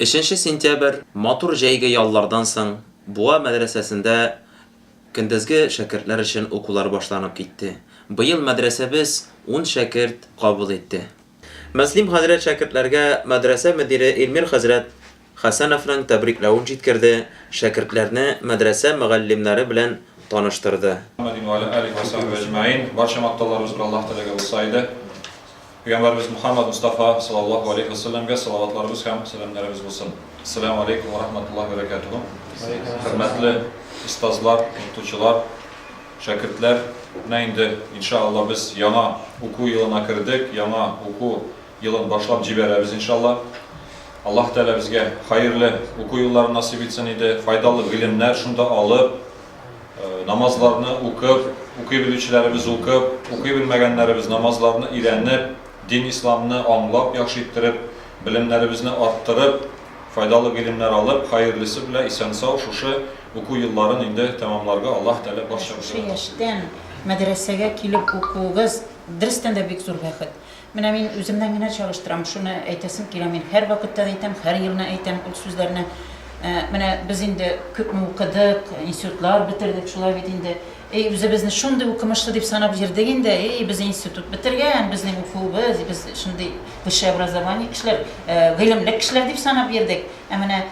Өченче сентябрь, матур җәйге яллардан соң, Буа мәдрәсәсендә көндезге шәкертләр өчен укулар башланып китте. Быел мәдрәсәбез ун шәкерт кабул итте. Мөслим хәзрәт шәкертләргә мәдрәсә мөдире Илмир хәзрәт Хәсәновның тәбрикләвен җиткерде, шәкертләрне мәдрәсә мөгаллимнәре белән таныштырды. Мөхәммәдин вә галә алиһи вә сахбиһи әҗмәгыйн. Барча мактауларыбыз бер Аллаһ теләге булса иде. Пәйгамбәребез Мөхәммәд Мостафа салаллаһу алейһи ва сәлләмгә салаватларыбыз һәм сәламнәребез булсын. Әссәләмү алейкүм вә рахматуллаһи вә бәрәкәтүһү! Хөрмәтле остазлар, укытучылар, шәкертләр! Менә инде, инша Аллаһ, без яңа уку елына кердек, яңа уку елын башлап җибәрәбез, инша Аллаһ. Аллаһ Тәгалә безгә хәерле уку елларын насыйп итсен иде, файдалы гыйлемнәр шунда алып, Намазларны укып, укый белүчеләребез укып, укый белмәгәннәребез намазларны өйрәнеп, дин исламны аңлап, яхшы иттереп, белемнәребезне арттырып, файдалы гыйлемнәр алып, хаерлисе белә исән-сау шушы уку елларын инде тәмамларга Аллаһ Тәгалә барчабызга насыйп итсен. Шушы яшьтән мәдрәсәгә килеп укуыгыз, дөрестән дә бик зур бәхет. Менә мин үземнән генә чагыштырам, шуны әйтәсем килә, мин һәрвакытта да әйтәм, һәр елны әйтәм ул сүзләрне. Менә без инде күпме укыдык, институтлар бетердек, шулай бит инде. Әй, үзебезне шундый укымышлы дип санап йөрдек инде, әй, без институт бетергән, безнең укуыбыз, без шундый высшее образование кешеләр, гыйлемле кешеләр дип санап йөрдек. Ә менә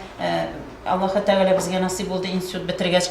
Аллаһы Тәгалә безгә насыйп булды, институт бетергәч,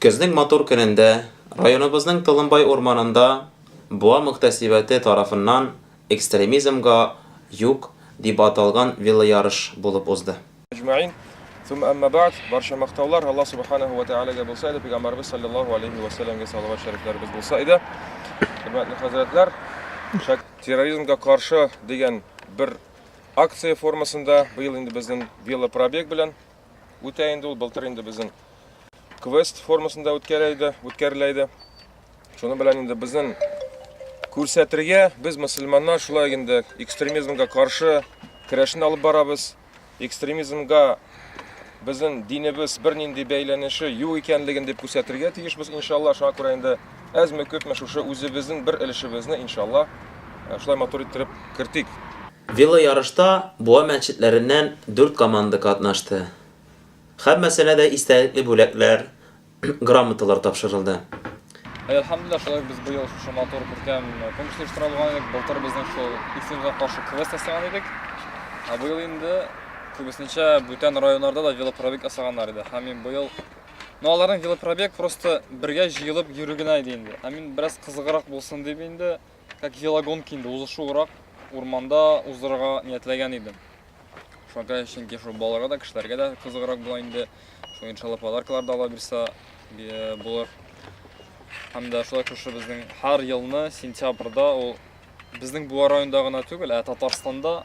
Көзнең матур көнендә районыбызның Толымбай урманында Буа мөхтәсибәте тарафыннан Экстремизмга юк дип аталган велоярыш булып узды. Әҗмәгыйн, Сумма әмма бәгъд, Барча мактаулар Аллаһ Субханәһү вә тәгаләгә булса иде, Пәйгамбәребез салләллаһу галәйһи вә сәлләмгә салават шәрифләребез булса иде. Хөрмәтле хәзрәтләр, шәк. Терроризмга каршы дигән бер акция формасында быел инде безнең велопробег белән үтә инде ул. Былтыр инде безнең квест формасында үткәрә иде, үткәрелә иде. Шуның белән инде безнең күрсәтергә без мусульманнар шулай инде экстремизмга каршы көрәшне алып барабыз. Экстремизмга безнең динебез бернинди бәйләнеше юк икәнлеген дип күрсәтергә тиешбез, иншалла. Шуңа күрә инде Әзме күпме шушы үзебезнең бер өлешебезне, иншалла, шулай матур иттереп кертик. Велоярышта Буа мәчетләреннән дүрт команда катнашты. Һәммәсенә дә истәлекле бүләкләр, грамоталар тапшырылды. Әлхәмдүлилләһ, шулай ук без быел шушы матур, күркәм конкурс оештыра алган идек. Былтыр безнең шул Исемгә каршы квест ясаган идек. Ә быел инде күбесенчә бүтән районнарда да велопробег ясаганнар иде. Һәм мин быел Ну аларның велопробег просто бергә җыелып йөрү генә иде инде. Ә мин бераз кызыграк булсын дип инде, как велогонки инде узышуырак урманда уздырырга ниятләгән идем. Шуңа чөнки шул балаларга да, кешеләргә дә кызыграк була инде. Шул иншалла подаркалар да ала бирсә булыр. Һәм дә шулай шушы безнең һәр елны сентябрьдә ул безнең Буа районында гына түгел, ә Татарстанда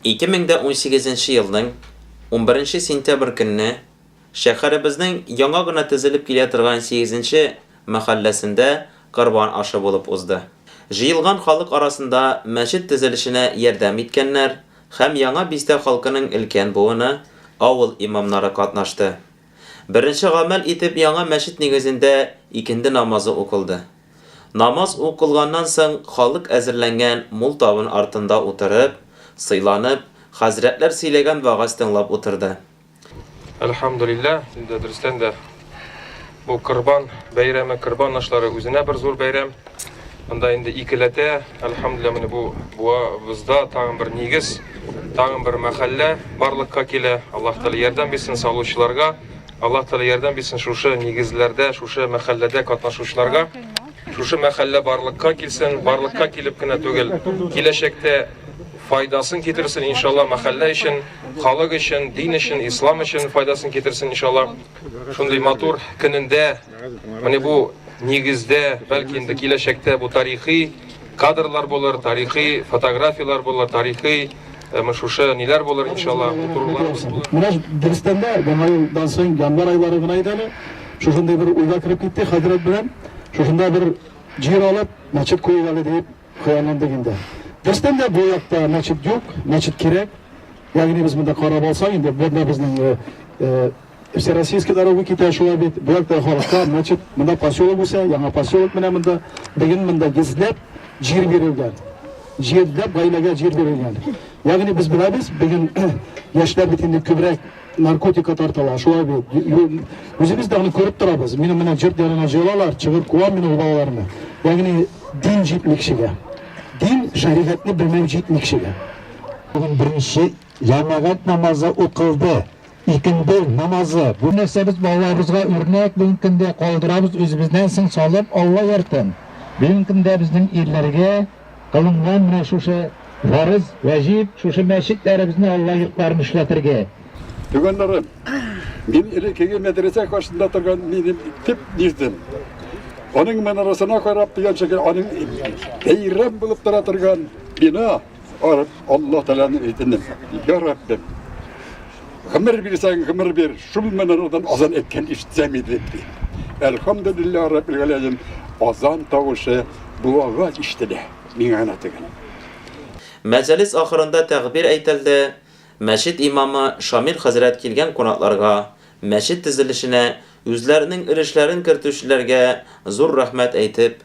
2018 нче елның 11 нче сентябрь көнне шәһәребезнең яңа гына төзелеп килә торган 8 нче мәхәлләсендә корбан ашы булып узды. Җыелган халык арасында мәчет төзелешенә ярдәм иткәннәр һәм Яңа Бистә халкының өлкән буыны, авыл имамнары катнашты. Беренче гамәл итеп яңа мәчет нигезендә икенде намазы укылды. Намаз укылганнан соң халык әзерләнгән мул табын артында утырып, сыйланып, хәзрәтләр сөйләгән вәгазь тыңлап утырды. Әлхәмдүлилләһ, инде дөрестән дә бу Корбан бәйрәме, Корбан ашлары үзенә бер зур бәйрәм. Монда инде икеләтә, әлхәмдүлилла, менә бу буабызда тагын бер нигез, тагын бер мәхәллә барлыкка килә. Аллаһ Тәгалә ярдәм бирсен салучыларга. Аллаһ Тәгалә ярдәм бирсен шушы нигезләрдә, шушы мәхәлләдә катнашучыларга. Шушы мәхәллә барлыкка килсен, барлыкка килеп кенә түгел, киләчәктә файдасын китерсен иншалла мәхәллә өчен, халык өчен, дин өчен, ислам өчен файдасын китерсен иншалла. Шундый матур көнендә Менә бу нигездә, бәлки инде киләчәктә бу тарихи кадрлар булыр, тарихи фотографияләр булыр, тарихи Әмма шушы ниләр булыр иншалла утыруларыбыз булыр. Менә дөрестән дә яңа елдан соң январь айлары гына иде әле. Шушындый бер уйга кереп китте хәзрәт белән. Шушында бер җир алып, мәчет куйыйк әле дип хыялландык инде. Дөрестән дә бу якта мәчет юк, мәчет кирәк. Ягъни без монда карап алсак инде, бу безнең Всероссийский дорога китә шулай бит. Бу якта халыкка, значит, монда поселок үсә, яңа поселок менә монда. Бүген монда йөзләп җир бирелгән. Җирдә гаиләгә җир бирелгән. Ягъни без беләбез, бүген яшьләр бит инде күбрәк наркотика тартыла, шулай бит. Үзебез дә аны күреп торабыз. Минем менә җырт янына җыелалар, чыгып куам мин ул балаларны. Ягъни дин җитмикшегә. Дин шәригатьне белмәү җитмикшегә. Бүген беренче җәмәгать намазы укылды. Икенде намазы, бу нәрсәбез балаларыбызга үрнәк бүгенге көндә калдырабыз үзебезнән соң салып Алла яртын. Бүгенге көндә безнең ирләргә кылынган менә шушы фарыз, вәҗиб, шушы мәчетләребезне Алла йортларын эшләтергә. Туганнарым, мин элеккеге мәдрәсә каршында торган минем төп нигъзем. Аның манарасына карап дигән шикелле, аның бәйрәм булып тора торган бина. Барып, Аллаһ Тәгаләне әйтендем. Я Раббим, гомер бирсәң, гомер бир. Шул минутдан азан әйткән ишетсәм иде. Әлхамдулиллаһ Раббил Галәмин азан тавышы бу аваз ишетелә. Миңа гына түгел. Мәҗалис ахырында тәгъбир әйтелде, мәчет имамы Шамил хәзрәт килгән кунакларга, мәчет төзелешенә үзләренең өлешләрен кертүчеләргә зур рәхмәт әйтеп,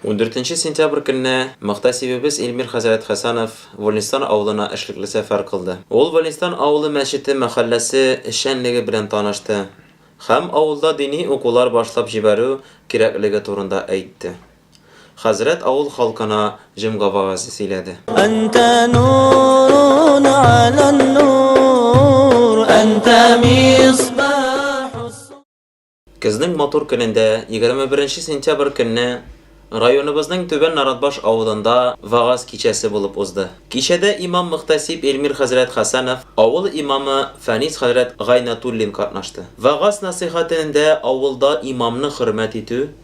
Ундүртенче сентябрь көнне мөхтәсибебез Илмир хәзрәт Хәсәнов Вольнистан авылына эшлекле сәфәр кылды. Ул Вольнистан авылы мәчете мәхәлләсе эшчәнлеге белән танышты һәм авылда дини укулар башлап җибәрү кирәклеге турында әйтте. Хәзрәт авыл халкына җомга вәгазе сөйләде. Әнтә нурун галән нур, әнтә мисбаху. Көзнең матур көнендә, 21 нче сентябрь көнне районыбызның Түбән Наратбаш авылында вәгазь кичәсе булып узды. Кичәдә имам-мөхтәсиб Илмир хәзрәт Хәсәнов, авыл имамы Фәнис хәзрәт Гайнәтуллин катнашты. Вәгазь-нәсыйхәтенендә авылда имамны хөрмәт итү,